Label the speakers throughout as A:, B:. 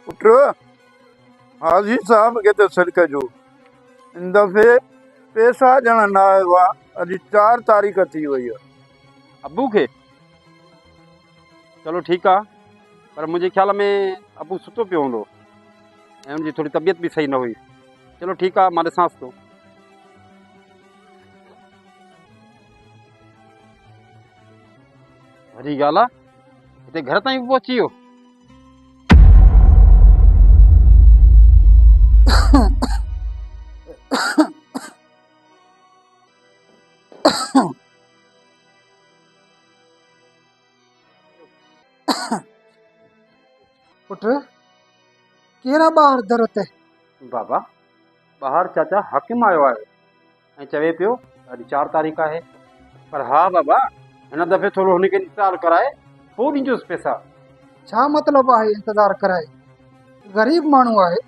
A: پٽ، حاجي صاحب کي ته سڏ ڪجو. هن دفعي پئسا ڏيڻ نه آيو آ. اڄ چار تاريخ ٿي وئي آ. ابو کي؟
B: چلو ٺيڪ آ. پر منهنجي خيال ۾ ابو ستو پيو هوندو ۽ ان جي ٿوري طبيعت به صحيح نه هئي. چلو ٺيڪ آ، مان ڏسانس ٿو. وڏي ڳالهه آ. هتي گهر تائين به پهچي ويو
C: پٽ ڪير آ ٻاهر در تي بابا
B: ٻاهر چاچا حاڪم آيو آهي ۽ چوي پيو ته اڄ چار تاريخ آهي پر ها بابا هن دفعي ٿورو هن کي انتظار ڪرائي پوء ڏيندوس پئسا. ڇا مطلب
C: آهي انتظار ڪرائي؟ غريب ماڻهو آهي،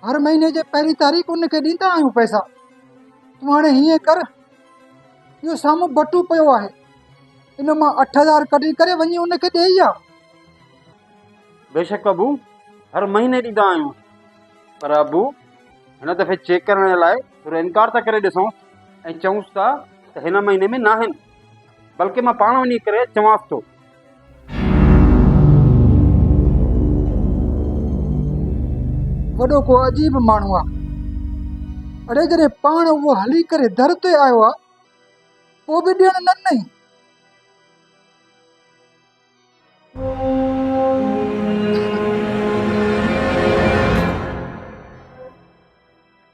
C: هر مهيني جي پهرين تاريخ ان کي ڏيندا آهيون پئسا. تون هاڻي هيئن ڪر، اهو سامهون بٽو پيو آهي، ان مان اٺ هزار ڪڍي ڪري وڃي ان کي ڏيئي آ. بيشڪ
B: ابو، هر مهيني ڏيندا آهيون، پر ابو هن دفعي چيڪ ڪرڻ لاء ٿورو انڪار ته ڪري ڏسون ۽ چئونس ته هن مهيني ۾ ناهن بلڪه مان پاڻ وڃي ڪري چوانس ٿو.
C: وڏو ڪو عجيب ماڻهو آ. اڙي جڏهن پاڻ اهو هلي ڪري در تي آيو آ پوء به ڏيڻ نه ڏنئي.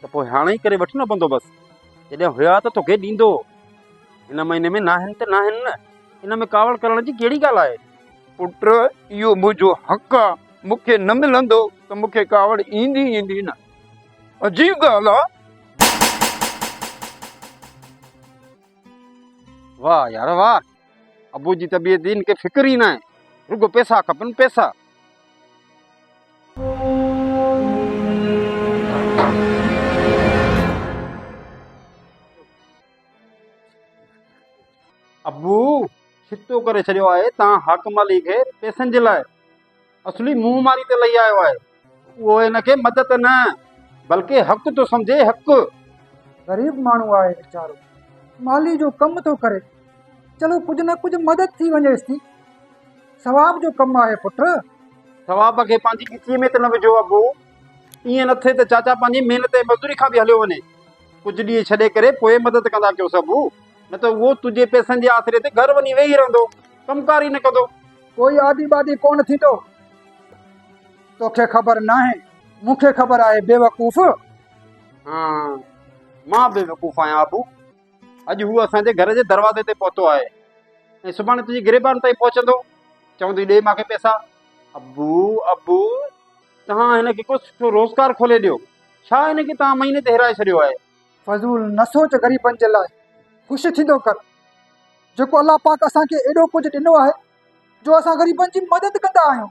A: ته پوء
B: هاڻي ئي ڪري وٺ نه بندوبست، جڏهن هيا ته توکي ڏيندو، هن مهيني ۾ ناهن ته ناهن نه، ان ۾ ڪاوڙ ڪرڻ جي ڪهڙي ڳالهه آهي؟ پٽ اهو
A: منهنجو حق آ، مون کي نه ملندو ته مون کي ڪاوڙ ايندي ئي ايندي نه، عجيب ڳالهه آ.
B: واه يار واه، ابو جي طبيعت جي هن کي فڪر ئي ناهي، رڳو پئسا کپن پئسا. ابو ڇتو ڪري ڇڏيو آهي تان حاڪم علي کي پئسن جي لاء اصلي منهن ماري تي لهي آيو آهي اهو هن کي مدد نه بلڪه حق ٿو سمجهي حق غريب
C: ماڻهو آهي ويچارو مالي جو ڪم ٿو ڪري چلو ڪجهه نه ڪجهه مدد ٿي وڃيس ٿي ثواب جو ڪم آهي پٽ ثواب کي
B: پنهنجي ڳچيء ۾ ته نه وجهو ابو ائين نه ٿئي ته چاچا پنهنجي محنت ۽ مزدوري کان به هليو وڃي ڪجهه ڏينهن ڇڏي ڪري پوء مدد ڪندا ڪيوس ابو نه ته اهو تنهنجي پئسن جي آسري تي گهر وڃي ويهي رهندو ڪم ڪار ئي نه ڪندو ڪوئي آدي بادي
C: ڪونه ٿيندو توکي خبر ناهي مون کي خبر آهي بيوقوف ها
B: مان بيوقوف آهيان ابو اڄ هو اسان جي گهر جي دروازي تي پهتو آهي ۽ سڀاڻي تنهنجي گريبان تائين پهچندو چوندي ڏي مانکي پيسا ابو ابو توهان هن کي ڪو سٺو روزگار کولي ڏيو ڇا هن کي توهان مهيني تي هيرائي ڇڏيو آهي فضول نه
C: سوچ غريبن جي لاء خوش ٿيندو ڪر جيڪو الله پاڪ اسان کي ايڏو ڪجهه ڏنو آهي جو اسان غريبن جي مدد ڪندا آهيون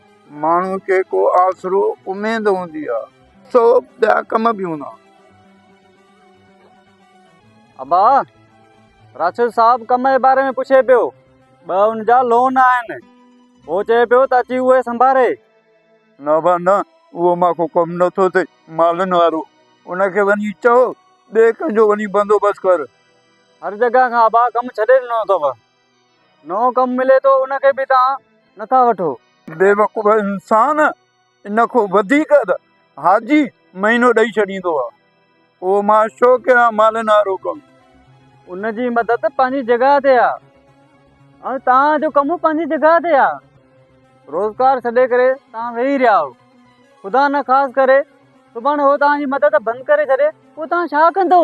A: ماڻهو کي ڪو آسرو اميد هوندي آ. سو ٻيا ڪم به هوندا.
D: ابا! راشد صاحب ڪم جي باري ۾ پڇي پيو. ٻه ان جا لون آهن. هو چئي پيو ته اچي اهي سنڀاري. نه ابا
A: نه، اهو مان کان ڪم نه ٿو ٿئي. مالن وارو ان کي وڃي چئو ٻئي ڪنهن جو وڃي بندوبست ڪر. هر جڳهه
D: کان ابا ڪم ڇڏي ڏنو اٿو. نئون ڪم ملي ٿو ان کي به توهان نٿا وٺو. بيوقوف
A: انسان ان کون وڌيڪ ته حاجي مهينو ڏئي ڇڏيندو آ اهو مان ڇو ڪيان مالن وارو ڪم. ان جي مدد
D: پنهنجي جڳهه تي آ ۽ توهان جو ڪم پنهنجي جڳهه تي آ روزگار ڇڏي ڪري توهان ويهي رهيا آهو خدا نه خاص ڪري سڀاڻي هو توهان جي مدد بند ڪري ڇڏي پوء توهان ڇا ڪندو.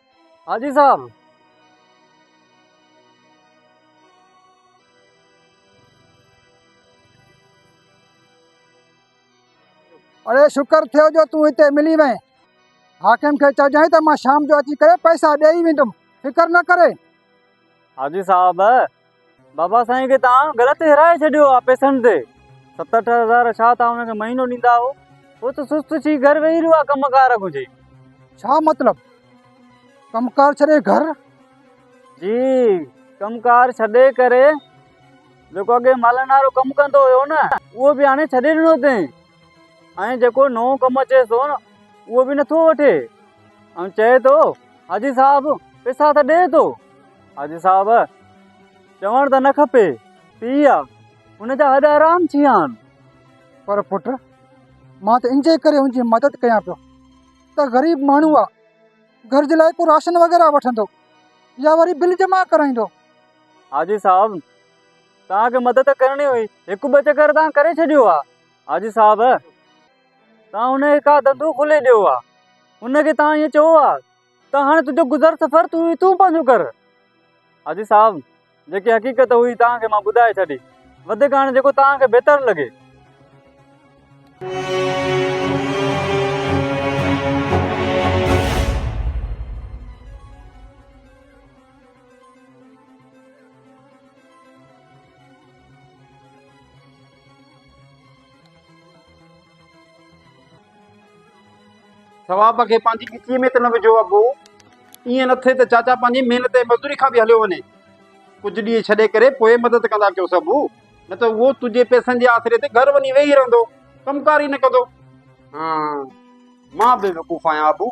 D: حاجي صاحب!
C: اڙي شڪر ٿيو جو تون هتي ملي وئين حاڪم کي چئجانء ته مان شام جو اچي ڪري پئسا ڏيئي ويندم فڪر نه ڪري حاجي
D: صاحب بابا سائين کي توهان غلط هيرائي ڇڏيو آ پيسن تي ست اٺ هزار ڇا توهان هن کي مهينو ڏيندا هو هو ته سست ٿي گهر ويهي رهيو آ ڪم ڪار گهجي ڇا مطلب
C: ڪم ڪار ڇڏي گهر جي
D: ڪم ڪار ڇڏي ڪري جيڪو اڳي مالن وارو ڪم ڪندو هيو نه اهو به هاڻي ڇڏي ڏنو اٿين ۽ جيڪو نئون ڪم اچيس ٿو نه اهو به نٿو وٺي ۽ چئي ٿو حاجي صاحب پيسا ته ڏي ٿو حاجي صاحب چوڻ ته نه کپي پي آ ان جا هڏ آرام ٿي ويا آهن پر پٽ
C: مان ته انجي ڪري ان جي مدد ڪيان پيو ته غريب ماڻهو آ گهر جي لاء ڪو راشن وغيره وٺندو يا وري بل جمع ڪرائيندو حاجي
D: صاحب توهان کي مدد ڪرڻي هئي هڪ ٻه چڪر توهان ڪري ڇڏيو آ حاجي صاحب توهان هن کي ڪا ڌنڌو کولي ڏيو آ هن کي توهان ائين چئو آ ته هاڻي تنهنجو گذر سفر تون ئي تون پنهنجو ڪر حاجي صاحب جيڪي حقيقت هئي توهان کي مان ٻڌائي ڇڏي وڌيڪ هاڻي جيڪو توهان کي بهتر لڳي
B: ثواب کي پنهنجي ڳچيء ۾ ته نه وجهو اڀو ائين نه ٿئي ته چاچا پنهنجي محنت ۽ مزدوري کان به هليو وڃي ڪجهه ڏينهن ڇڏي ڪري پوء مدد ڪندا ڪيوس اڀو نه ته اهو تنهنجي پئسن جي آسري تي گهر وڃي ويهي رهندو ڪمڪار ئي نه ڪندو مان بيوقوف آهيان اڀو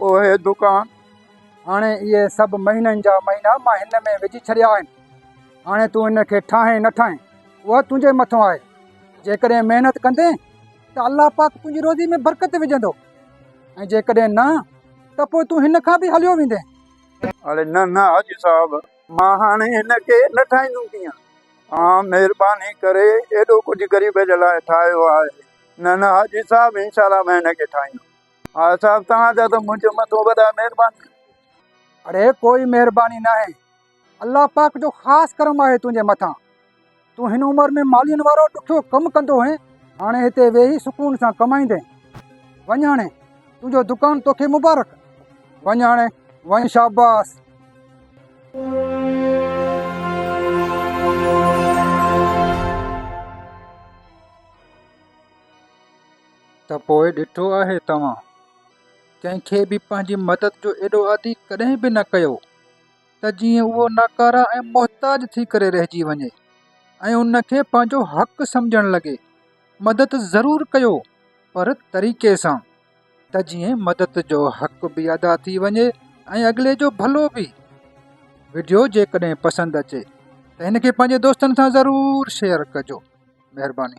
A: اهي دڪان هاڻي
C: اهي سڀ مهينن جا مهينا مان هن ۾ وجهي ڇڏيا آهن هاڻي تون هن کي ٺاهين نه ٺاهين اها تنهنجي مٿان آهي جيڪڏهن محنت ڪندين ته الله پاڪ تنهنجي روزي ۾ برڪت وجهندو ۽ جيڪڏهن نه ته پوء تون هن کان به هليو ويندين اڙي نه
A: نه حاجي صاحب مان هاڻي هن کي نه ٺاهيندم ڪيئن اوهان مهرباني ڪري ايڏو ڪجهه غريب جي لاء ٺاهيو آهي نه نه حاجي صاحب انشاء الله مان هن کي ٺاهيندم ها صاحب توهان جا ته منهنجي مٿو وڏا مهربان اڙي
C: ڪوئي مهرباني ناهي الله پاڪ جو خاص ڪرم آهي تنهنجي مٿان تون هن عمر ۾ مالين وارو ڏکيو ڪم ڪندو هئين هاڻي هتي ويهي سڪون سان ڪمائيندين وڃ هاڻي تنهنجو دڪان توکي مبارڪ وڃ هاڻي وڃ شاباس ته پوء ڏٺو آهي توهان ڪنهن کي به پنهنجي مدد جو ايڏو عادي ڪڏهن به نه ڪيو ته جيئن اهو ناڪاره ۽ محتاج ٿي ڪري رهجي وڃي ۽ ان کي پنهنجو حق سمجهڻ لڳي. مدد ضرور ڪيو پر طريقي سان ته جيئن مدد جو حق به ادا ٿي وڃي ۽ اڳلي جو ڀلو به. وڊيو جيڪڏهن پسند اچي ته هن کي پنهنجي دوستن سان ضرور شيئر ڪجو. مهرباني.